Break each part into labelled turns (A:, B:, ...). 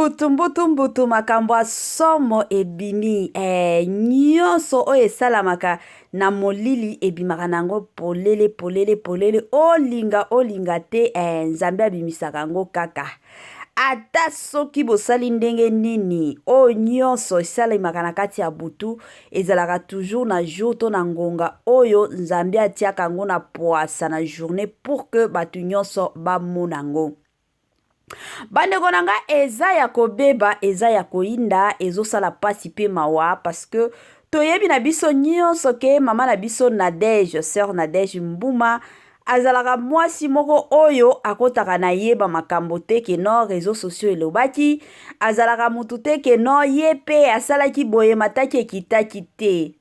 A: mbutu mbutu mbutu makambo ya somo ebimi eh, nyonso oyo esalamaka na molili ebimaka na yango polele polele polele olinga olinga te eh, nzambe abimisaka yango kaka ata soki bosali ndenge nini oyo nyonso esalemaka na kati ya butu ezalaka toujours na jour to na ngonga oyo nzambe atiaka yango na pwasa na journée pour que bato nyonso bamona yango bandeko na nga eza ya kobeba eza ya koyinda ezosala mpasi mpe mawa parce que toyebi na biso nyonso ke mama na biso nadege sœur nadege mbuma azalaka mwasi moko oyo akotaka na ye bamakambo te ke no réseau sociaux elobaki azalaka motu te ke no ye mpe asalaki boye mataki ekitaki te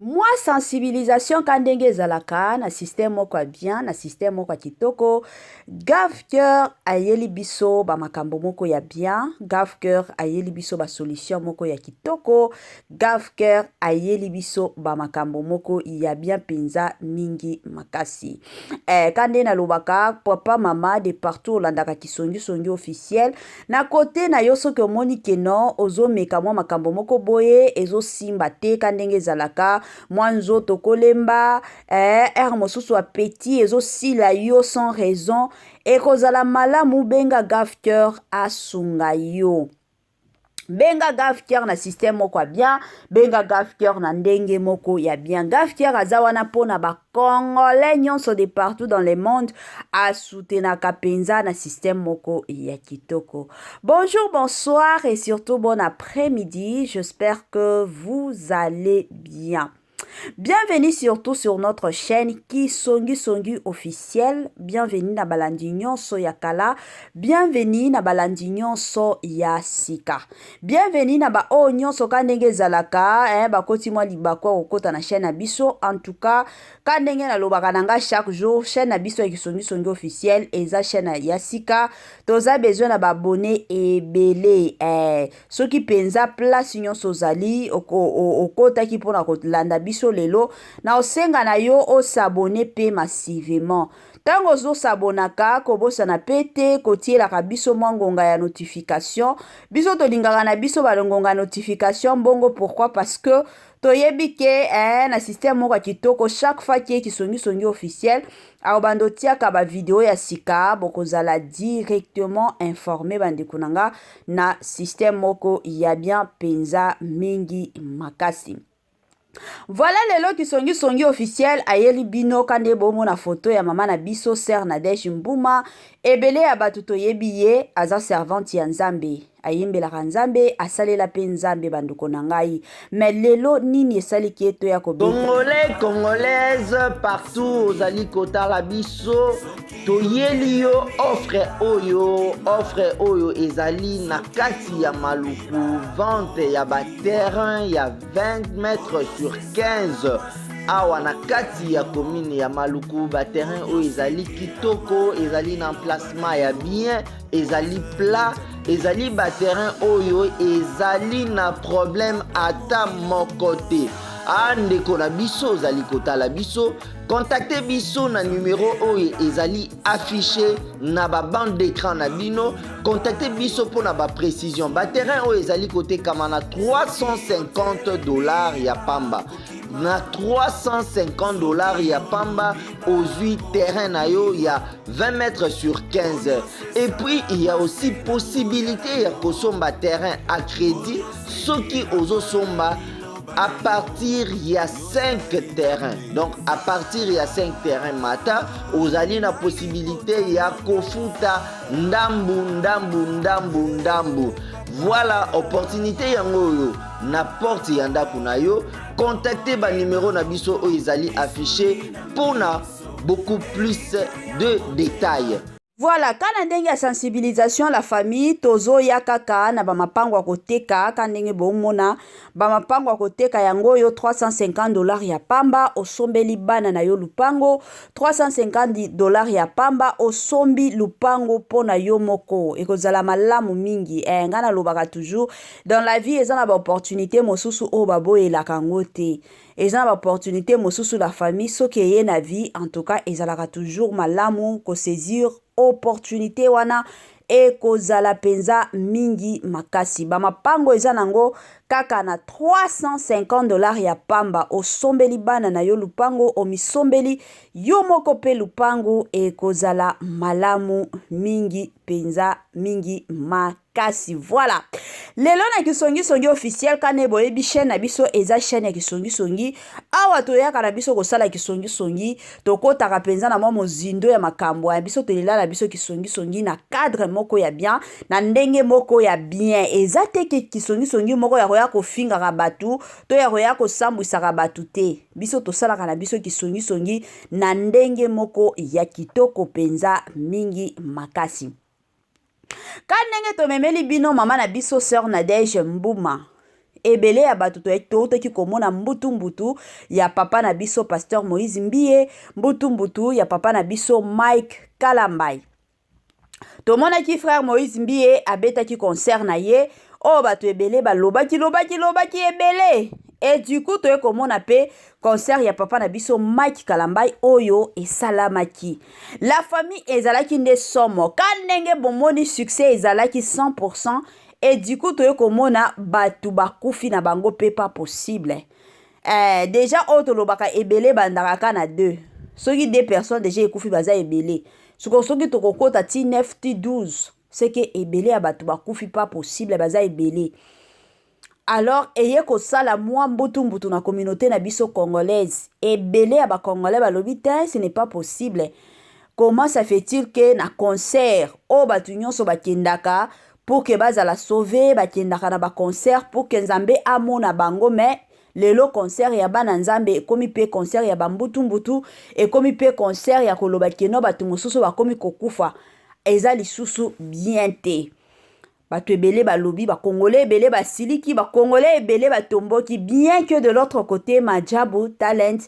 A: Mwa sensibilisation ka ndenge ezalaka na système moko ya bien na système moko ya kitoko gavcur ayeli biso bamakambo moko ya bien gavcur ayeli biso basolution moko ya kitoko gavcur ayeli biso bamakambo moko ya bien mpenza mingi makasi eh, ka nde nalobaka papa mama de partout olandaka kisongisongi officiel Na cote na yo soki omoni que non ozo meka mwa makambo moko boye ezo simba te ka ndenge ezalaka mwa nzoto ko lemba eeh heure mosusu appetit ezo sila yo sans raison eko zala malamu benga gafteur asunga yo. Benga gafteur na système moko ya bien, benga gafteur na ndenge moko ya bien. Gafteur aza wana pona ba Congolais nyonso de partout dans le monde asoutenaka mpenza na système moko ya kitoko. Bonjour, bonsoir et surtout bon après-midi. J'espère que vous allez bien. Bienvenue surtout sur notre chaîne Kisongi Songi officiel. Bienvenue na balandi nyonso ya kala. Bienvenue na balandi nyonso ya sika. Bienvenue na ba oyo nyonso ka ndenge ezalaka eh, bakoti mwa libaku ya kokota na chaîne na biso en tout cas ka ndenge nalobaka na nga chaque jour chaîne na biso ya kisongisongi officiel eza chaîne ya sika toza besoin na baabone ebele eh, soki mpenza place nyonso ozali okotaki mpo na kolanda biso lelo na osenga na yo osabone mpe massivement Tango ozo s'abonnaka kobosana pe te kotielaka biso mwa ngonga ya notification, biso tolingaka na biso ba ngonga ya notification bongo pourquoi parce que toyebi ke eh, na système moko ya kitoko chaque fois ke kisongi songi officiel akobanda otiaka ba video ya sika bokozala directement informe bandeko na nga na système moko ya bien penza mingi makasi. Voilà lelo kisongi songi officiel ayeli bino kande bomona photo ya mama na biso sœur Nadège Mbuma ebele ya bato toyebi ye aza servante ya Nzambe ayembelaka Nzambe asalela pe Nzambe bandeko na ngai mais lelo nini esali ke toya kobeta Congolais,
B: congolaise, partout ozali kotala biso, Toyeli yo offre oyo, offre oyo ezali na kati ya maluku vente ya ba terrain ya 20 mètres sur 15 awa na kati ya commune ya Maluku ba terrain oyo ezali kitoko, ezali na emplacement ya bien, ezali plat, ezali ba terrain oyo ezali na problème ata moko te. Ah ndeko na biso ozali kotala biso Contactez biso na numero oyo ezali affiché na ba bande d'écran na bino. Contactez biso pour na ba précision. Ba terrain oyo ezali côté Kamana 350 dollars ya pamba. Na 350 dollars ya pamba ozui terrain na yo ya 20 mètres sur 15. Et puis il y a aussi possibilité ya kosomba terrain à crédit soki ozo somba à partir ya 5 terrain donc à partir ya 5 terrain mata ozali na possibilité ya kofuta ndambu ndambu ndambu ndambu voilà opportunité yango oyo na porte ya ndako na yo contacte banimero na biso oyo ezali affiché mpo na beaucoup plus de détails Voilà kana
A: ndenge ya sensibilisation à la famille tozo ya kaka na ba mapango ya koteka ka ndenge bo mona ba mapango ya koteka yango yo 350 dollars ya pamba osombeli bana na yo lupango 350 dollars ya pamba osombi lupango pona yo moko ekozala malamu mingi eh ngana lobaka toujours dans la vie eza na ba opportunités mosusu oyo baboyelaka yango te Eza na ba opportunite mosusu la famille soki eye na vie en tout cas ezalaka toujours malamu ko saisir opportunite wana ekozala penza mingi makasi ba mapango eza nango kaka na 350 dollars ya pamba osombeli bana na yo lupango omisombeli yo moko pe lupango ekozala malamu mingi penza mingi makasi kasi voilà lelo na kisongisongi officiel kane boyebi chaîne na biso eza chaîne ya kisongisongi awa toyaka na biso kosala kisongisongi tokotaka mpenza na mwa mozindo ya makambo ya biso tolela na biso kisongisongi na cadre moko ya bien na ndenge moko ya bien eza te ke kisongisongi moko ya koya kofingaka bato to ya koya kosambwisaka bato te biso tosalaka na biso kisongisongi na ndenge moko ya kitoko mpenza mingi makasi Ka ndenge tomemeli bino mama na biso Sœur Nadège Mbuma, ebele ya bato toutaki komona mbutu mbutu ya papa na biso Pasteur Moïse Mbiye, mbutu mbutu ya papa na biso Mike Kalambay. Tomonaki frère Moïse Mbiye abetaki concert na ye oyo bato ebele balobaki lobaki lobaki ebele et du coup toye komona pe concert ya papa na biso Mike Kalambay oyo esalamaki. La famille ezalaki nde somo ka ndenge bomoni succès ezalaki 100% et du coup toye komona batu bakufi na bango pe pas possible. Eh, deja oyo tolobaka ebele ebandaka ka na 2 soki 2 personnes deja ekufi baza ebele soko soki tokokota ti 9 ti 12 seke ebele ya bato bakufi pas possible baza ebele Alors eye kosala mua mbutu mbutu na communaute na biso congolaise. Ebele ya ba congolais balobi tein ce n'est pas possible comment ça fait-il que na concert oyo batu nionso bakendaka pour que bazala sauve bakendaka na ba concert pour que Nzambe amona bango mais lelo concert ya bana Nzambe ekomi pe concert ya ba mbutu mbutu ekomi pe concert ya koloba keno batu mosusu bakomi kokufa eza lisusu bien te. Bato ebele balobi, ba congolais ebele basiliki, ba congolais ebele batomboki bien que de l'autre cote Maajabu Talent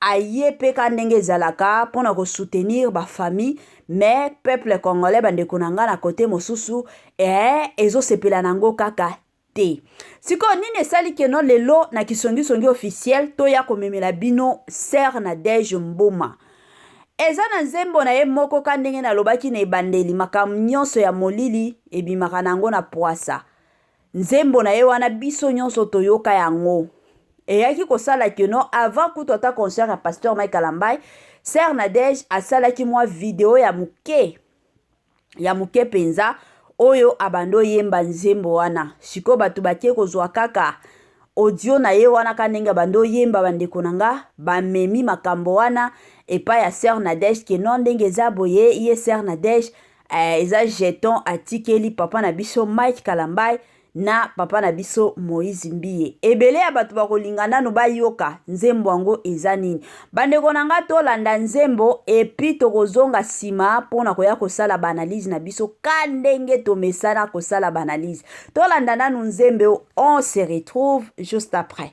A: aye pe ka ndenge ezalaka pona ko soutenir ba famille mais peuple congolais bandeko na nga na cote mosusu eeh ezo sepela na ngo kaka te. Sikoyo nini esali que no lelo na kisongisongi officiel toya komemela bino Sœur Nadège Mboma? Eza na nzembo na ye moko ka ndenge na lobaki na ebandeli makambo nionso ya molili ebimaka na yango na puasa nzembo na ye wana biso nionso toyoka yango eyaki kosala que no avant kutu ata concert ya pasteur Mike Kalambay Sœur Nadège asalaki mwa video ya moke ya moke mpenza oyo abandi oyemba nzembo wana sikoyo bato bake kozwa kaka audio na ye wana ka ndenge abandi oyemba bandeko na nga bamemi makambo wana epai ya sœur nadège ke non ndenge eza boye ye sœur nadège eh, eza jeton atikeli papa na biso mike kalambai na papa na biso Moïse Mbiye. Ebele ya bato bakolinga nano bayoka nzembo yango eza nini. Bandeko na nga tolanda nzembo epi tokozonga nsima mpo na koya kosala baanalyse na biso ka ndenge tomesana kosala baanalyse. Tolanda nano nzembe on se retrouve juste après.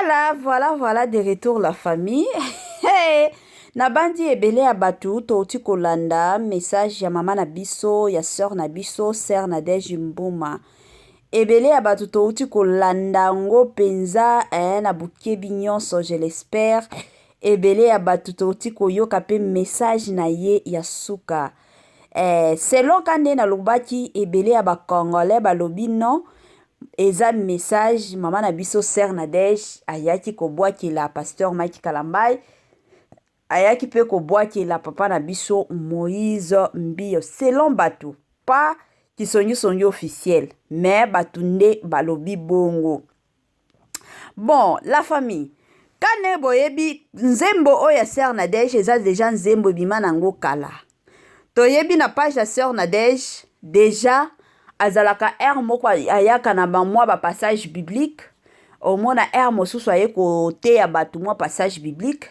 C: Voilà,
A: voilà, voilà de retour la famille. hey! nabandi ebele ya bato touti kolanda message ya mama na biso ya sœur na biso sœur Nadège Mbuma ebele ya bato touti kolanda yango mpenza eh, na bokebi nyonso je l'espère ebele ya bato touti koyoka mpe message na ye ya suka eh, selon ka nde nalobaki ebele ya bacongolais balobi non Eza message maman na biso sœur Nadège ayaki kobwakela pasteur Mike Kalambay ayaki pe kobwakela papa na biso Moïse Mbiyo selon batu pas kisongi songi officiel mais batu nde balobi bongo bon la famille kane boyebi nzembo oyo ya sœur Nadège eza deja nzembo ebima nango kala Toyebi na page ya sœur Nadège dejà azalaka heure moko ayaka na ba mwa ba passage biblique omona heure mosusu aye koteya bato mwa passage biblique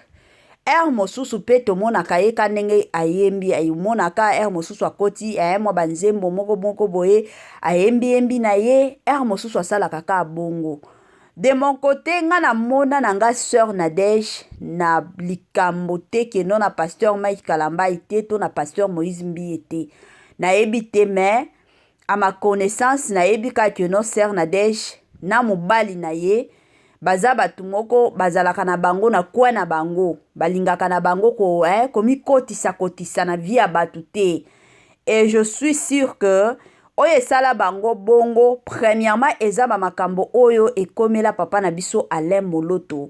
A: heure mosusu mpe tomonaka ye ka ndenge ayembi amonaka heure mosusu akoti aye mwa banzembo moko moko boye ayembi yembi na ye heure mosusu asalaka ka bongo De mon cote nga na mona na nga soeur Nadège na likambo te ke non na pasteur Mike Kalambay te to na pasteur Moïse Mbiye te na yebi te mais à ma connaissance na yebi ka ke non soeur Nadège na mobali na ye baza bato moko bazalaka na bango na coin na bango balingaka na bango ko eh, komikotisa kotisa na vie ya bato te et je suis sûr que Oyo esala bango bongo, premièrement eza ba makambo oyo ekomela papa na biso Alain Moloto.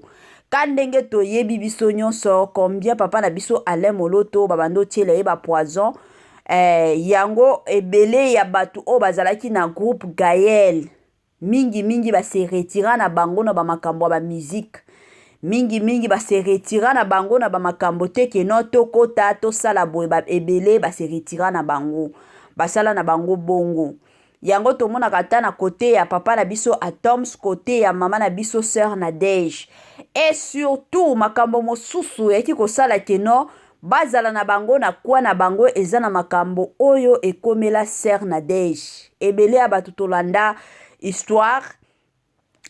A: Ka ndenge toyebi biso nionso combien papa na biso Alain Moloto ba bando tiela ye ba poison, eh, yango ebele ya batu oyo bazalaki na groupe Gaël Mingi mingi ba se retira na bango na ba makambo ya ba musique. Mingi mingi ba se retira na bango na ba makambo te que non to kota to sala boye ba ebele ba se retira na bango. Ba sala na bango bongo. Yango to monaka ata na cote ya papa na biso Athoms, cote ya mama na biso soeur Nadège. Et surtout makambo mosusu eyaki ko sala que non Bazala na bango na coin na bango eza na makambo oyo ekomela sœur Nadège ebele ya batu tolanda histoire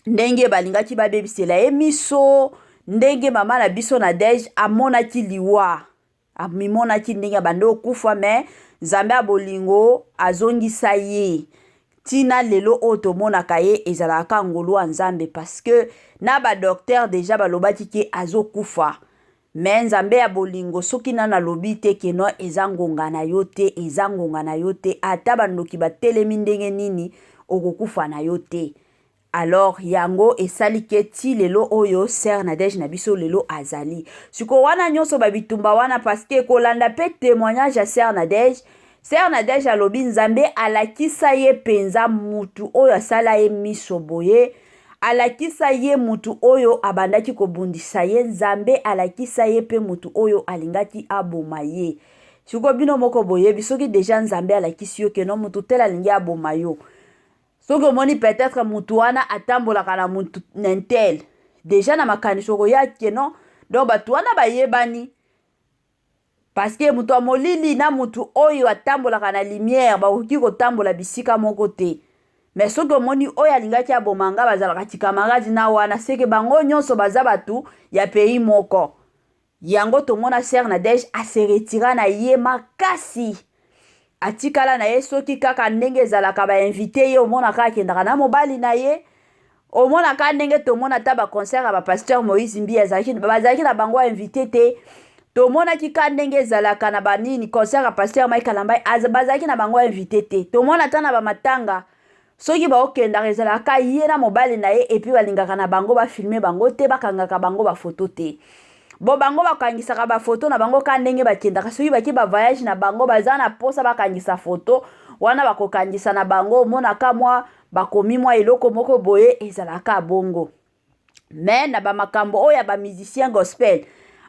A: ndenge balingaki babebisela ye miso ndenge mama na biso Nadège amonaki liwa amimonaki ndenge abandi okufa me Nzambe ya bolingo azongisa ye tina lelo oyo tomonaka ye ezalaka ka ngolu ya Nzambe parce que na ba docteur deja balobaki ke azokufa Mais nzambe ya bolingo soki nanu alobi te que non eza ngonga na yo te eza ngonga na yo te ata ba ndoki ba telemi ndenge nini okokufa na yo te alors yango esali que ti lelo oyo sœur Nadège na biso lelo azali siko wana nionso ba bitumba wana parce que kolanda pe temoignage ya sœur Nadège Sœur Nadège alobi Nzambe alakisa ye penza mutu oyo asala ye miso boye, alakisa ye mutu oyo abandaki kobundisa ye, Nzambe alakisa ye pe mutu oyo alingaki aboma ye. Sikoyo bino moko boyebi soki deja Nzambe alakisi yo que non mutu tel alingi aboma yo. Soki omoni peut-etre mutu wana atambolaka na mutu n'intel, deja na makanisi okoya que non donc batu wana bayebani, Parce que moto ya molili na moto oyo atambolaka na lumière bakoki kotambola bisika moko te. Mais soki omoni oyo alingaki aboma nga bazalaka camarade na wana seke bango nyonso baza batu ya pays moko. Yango tomona Sœur Nadège a se retira na ye makasi. atikala na ye soki kaka ndenge ezalaka ba invite ye omonaka akendaka na mobali na ye omonaka ndenge tomona ata baconcert ya bapasteur moïse mbi bazalaki na bango invite te tomonaki ka ndenge ezalaka na banini concert ya pasteur mike alamba bazalaki na bango invite te tomona ata na bamatanga soki baokendaka ezalaka ye na mobali na ye epuis balingaka na bango bafilme bango te bakangaka bango bafoto te bo bango bakangisaka bafoto na bango ka ndenge bakendaka soki bake bavayage na bango baza na mposa bakangisa foto wana bakokangisa na bango omonaka mwa bakomi mwa eloko moko boye ezalaka bongo mais na ba makambo oyo ya ba musiciens gospel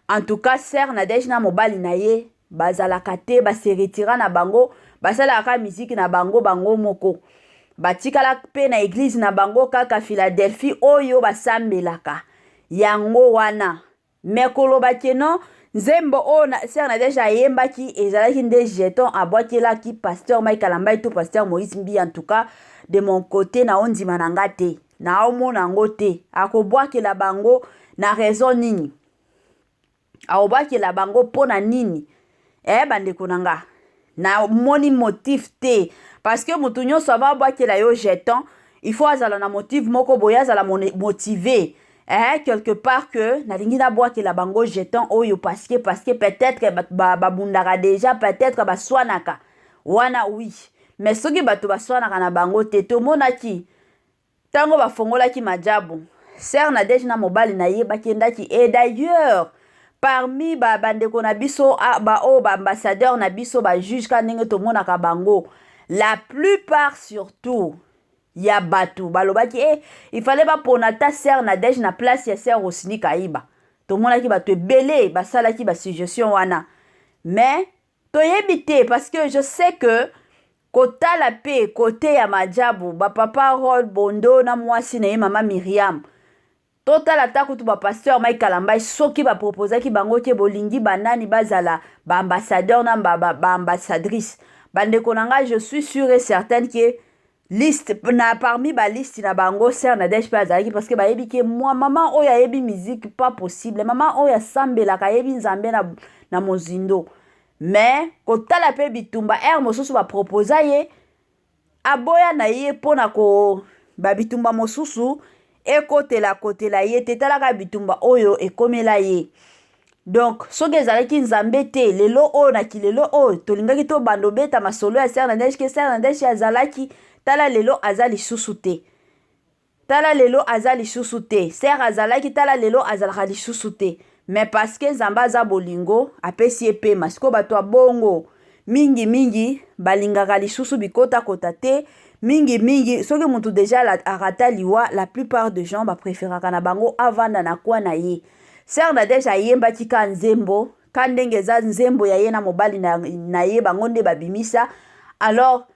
A: en tout cas sœur Nadège na mobali na ye bazalaka te ba se retira na bango basalaka kaka miziki na bango bango moko batikala mpe na eglize na bango kaka Philadelphie oyo basambelaka yango wana Mais koloba que non nzembo oyo na, Sœur Nadège ayembaki ezalaki nde jeton abwakelaki Pasteur Mike Kalambay to Pasteur Moïse Mbiye en tout cas de mon cote na ondima na nga te. Naomona yango te. Akobwakela bango na raison nini? Akobwakela bango mpo na nini? eh bandeko na nga namoni motif te parce que motu nyonso ava abwakela yo jeton il faut azala na motive moko boye azala motive eh, quelque part que nalingi nabwakela bango jeton oyo parce que parce que peut-être babundaka ba, ba déjà peut-être baswanaka wana oui mais soki bato baswanaka na bango te tomonaki Tango ba fongolaki Majaabu, Soeur Nadège na mobali na ye ba kendaki et d'ailleurs parmi ba ba ndeko na biso ba oyo ba ambassadeurs na biso ba juges kaka ndenge to monaka bango la plupart surtout ya batu ba lobaki eh il fallait ba pona ata Soeur Nadège na place ya Soeur Rosny Kayiba. To monaki batu ebele ba salaki ba suggestions wana mais Toyebi te parce que je sais que kotala pe kote ya majabu ba papa Rol Bondo na mwasi na ye mama Miriam totala ata kutu ba pasteur Mike Kalambay soki ba proposaki bango ke bolingi banani bazala ba ambassadeur na ba, ba, ba ambassadrice bandeko na ngai je suis sure et certaine ke liste na parmi ba liste na bango sœur Nadège pe azalaki parce que bayebi ke mwa maman oyo ayebi musique pas possible maman oyo asambelaka ayebi nzambe na, na mozindo mais kotala pe bitumba ere mosusu baproposa ye aboya na ye mpo na ko babitumba mosusu ekotela kotela ye te tala kaka bitumba oyo ekomela ye donc soki ezalaki nzambe te lelo oyo na kilelo oyo tolingaki tobanda obeta masolo ya ser na neige ke ser na neige azalaki tala lelo aza lisusu te tala lelo aza lisusu te ser azalaki tala lelo azalaka lisusu te Mais parce que Nzambe aza bolingo, apesi ye pema. Sikoyo bato ya bongo mingi mingi balingaka lisusu bikota kota te. Mingi mingi soki mutu deja arata liwa, la plupart de gens ba preferaka na bango avanda na coin na ye. Sœur Nadège ayembaki ka nzembo, ka ndenge eza nzembo ya ye na mobali na, na ye bango nde babimisa. Alors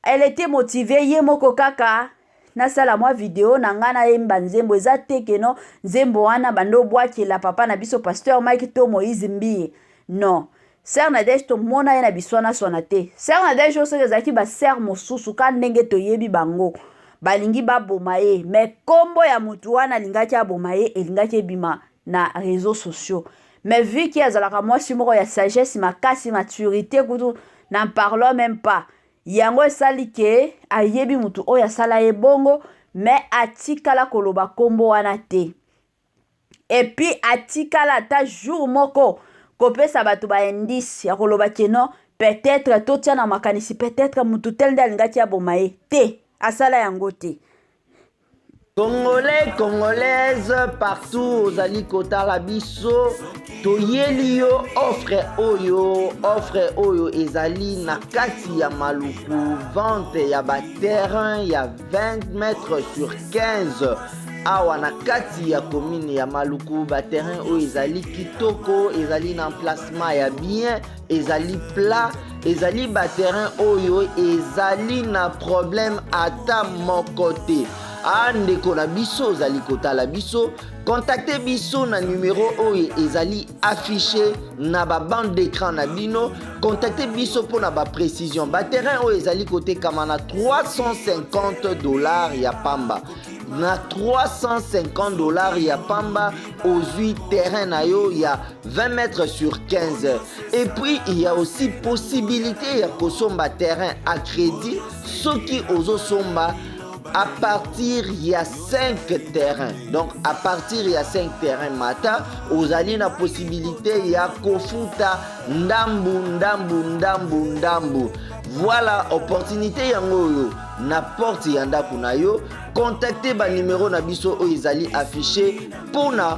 A: Elle etait motivee ye moko kaka nasala mwa video na ngai nayemba nzembo eza te ke no nzembo wana banda obwakela papa na biso pasteur mike to moïse mbiye no ser nadege tomona ye na biswanaswana te ser nadege oyo soki ezalaki baser mosusu ka ndenge toyebi bango balingi baboma ye me nkombo ya motu wana alingaki aboma ye elingaki ebima na reseaux sociaux mais vu que azalaka mwasi moko ya sagesse makasi maturité kutu n'en parlons même pas yango esali ke ayebi mutu oyo asala ye bongo mais atikala koloba kombo wana te epuis atikala ata jour moko kopesa bato ba indice ya koloba ke non peut-être totia na makanisi peut-être mutu tel nde alingaki aboma ye te asala yango te Congolais,
B: congolaise, partout ozali kotala biso, toyeli yo offre oyo, offre oyo ezali na kati ya maluku, vente ya ba terrain ya 20 mètres sur 15 awa na kati ya commune ya maluku ba terrain oyo ezali kitoko ezali na emplacement ya bien ezali plat ezali baterrain oyo ezali na problème ata moko te a ndeko na biso ozali kotala biso kontakte biso na numero oyo ezali affiche na babande d'écran na bino kontakte biso mpo na baprecision baterrain oyo ezali kotekama na 350 dollars ya pamba na 350 dollars ya pamba ozwi terrain na yo ya 20 mètres sur 15 et puis il y a aussi possibilité ya kosomba terrain à crédit soki ozosomba à partir il y a 5 terrains donc à partir il y a 5 terrains mata ozali na possibilité ya kofuta ndambu ndambu ndambu ndambu voilà opportunité yango oyo na porte ya ndako na yo contacte banimero na biso oyo ezali affiche mpo na